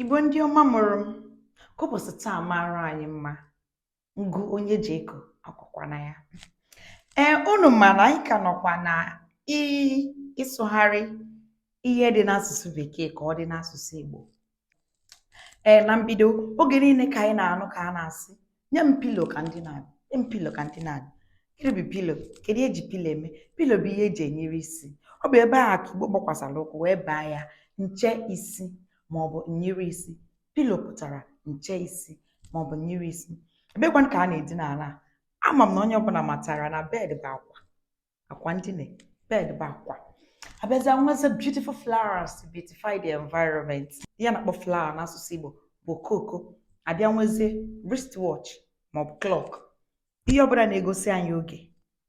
Igbo ndị ọma mụrụ m ka ụbọchị taa mara anyị mma ngụ onye ji eko akwakwana ya ee unu ma na anyị ka nọkwa na ị- ịsụgharị ihe dị n'asụsụ bekee ka ọ dị n'asụsụ Igbo ee na mbido oge niile ka anyị na-anụ ka a na-asị nye m pilo ka m dina nye m pilo ka m dina gịnị bụ pilo kedu ihe eji pilo eme pilo bụ ihe eji enyiri isi ọ bụ ebe a ka igbo gbakwasara ụkwụ wee baa ya nche isi ma ọ bụ nyiri isi pilo pụtara nche isi ma ọ bụ nyiri isi ebekwanụ ka a na-edina ala a ama m na onye ọbụla matara na bed bụ akwa akwa ndina bed bụ akwa abịazịa nwezie beautiful flowers to beautify the environment ihe a na-akpọ flower n'asụsụ Igbo bụ okooko abịa nwezie wristwatch maọbụ clock ihe ọbụla na-egosi anyị oge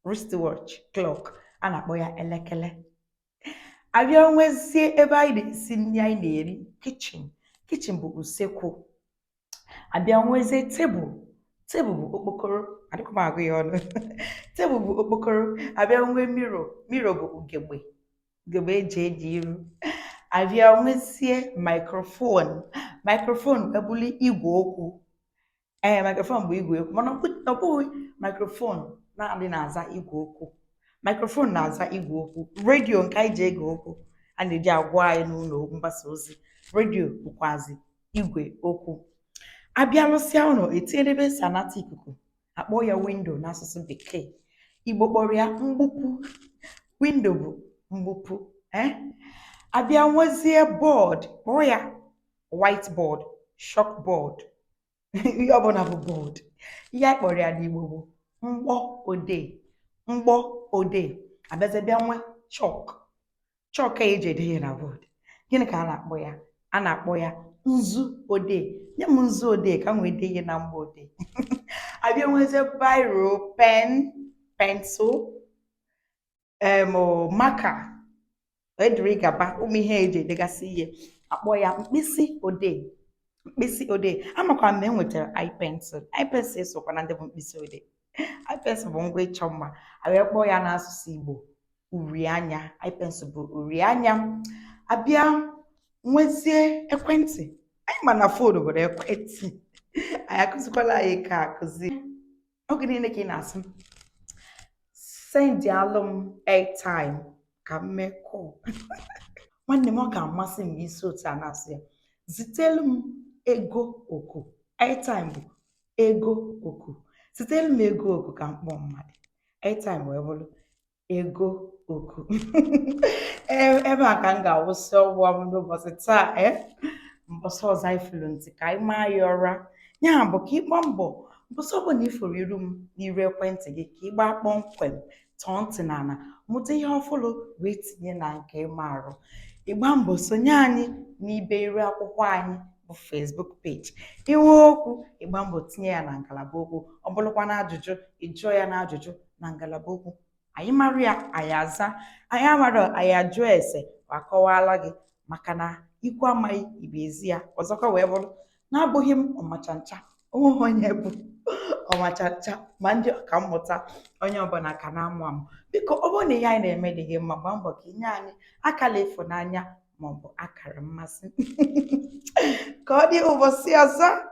wristwatch clock a na-akpọ ya elekere abịa nwezie ebe anyị na-esi nri anyị na-eri kichin kichin bụ usekwu abịa nwezie tebụl tebụl bụ okpokoro adịkwa m agụ ya ọnụ tebụl bụ okpokoro abịa nwee miro miro bụ ugegbe ugegbe eji ele iru abịa nwezie maikrofon maikrofon abụlụ igwe okwu ee eh, maikrofon bụ igwe okwu mana ọ bụghị maikrofon naanị na-aza igwe okwu maikrofon na-aza igwe okwu redio nke anyị ji ege okwu a na-eji agwa anyị n'ụlọ mgbasa ozi redio bụkwazi igwe okwu abịa rụsịa ụlọ etinyere ebe esi anata ikuku akpọọ ya windo n'asụsụ bekee igbo kpọrọ ya mgbupu windo bụ mgbupu eh? abịa nwezie bọọd kpọọ ya white board chalk board ihe ọbụla bụ bọọd ihe anyị kpọrọ ya n'igbo bụ mgbo odee mgbo odee abịazie bịa nwe chọk chọọkụ a eji ede ihe na bọọdụ gịnị ka a na-akpọ ya a na-akpọ ya nzu odee nye m nzu odee ka m wee dee ihe na mgbo odee abịa nwezie biro pen pensụl em marker wee dịrị gaba ụmụ ihe eji edegasị ihe akpọọ ya mkpịsị odee mkpịsị odee amakwa m na enwetara eye pencil eye pencil esokwa na ndị bụ mkpịsị odee eye pencil bụ ngwa ịchọ mma abịa kpọọ ya n'asụsụ Igbo uri anya eye pencil bụ uri anya abịa nwezie ekwentị anyị ma na fon bụ ekwentị anaghị akụzikwara anyị nke a akụzi oge niile ka ị na-asị sendịalụ m airtime ka m mee kọl nwanne m ọ ga-amasị m ma i si otu a na-asụ ya zitelu m ego oku airtime bụ ego oku zitelụ m ego oku ka m kpọọ mmadụ airtime wee bụrụ ego oku e, ebe a ka m ga-awụsị ọgwụ m n'ụbọsị taa e, mbọsị ọzọ anyị fụrụ nti ka anyị maa ya ụra ya bụ ka ị gbaa mbọ mbọsị ọbụla ị fụrụ iru m n'iru ekwentị gị ka ị gbaa kpọmkwem tọọ ntị n'ala mụta ihe ọfụlụ wee tinye na nke ị maarụ ị gbaa mbọ sonye anyị n'ibe iru akwụkwọ anyị bụ Facebook page i nwee okwu ị gbaa mbọ tinye ya na ngalaba okwu ọ bụrụkwa na ajụjụ ị jụọ ya na ajụjụ na ngalaba okwu anyị mara ya anyị azaa anyị amarọ anyị ajụọ ese akọwaala gị maka na ikwu amaghị ibe ezi ya ọzọkwa wee bụrụ na abụghị m ọmachancha onweghị onye bụ ọmachancha ma ndị ọka mmụta onye ọbụla ka na-amụ amụ biko ọ bụrụ na ihe anyị na-eme dị gị mma gbaa mbọ ka i nye anyị akala ịfụnanya maọbụ akara mmasị ka ọ dị ụbọsị ọzọ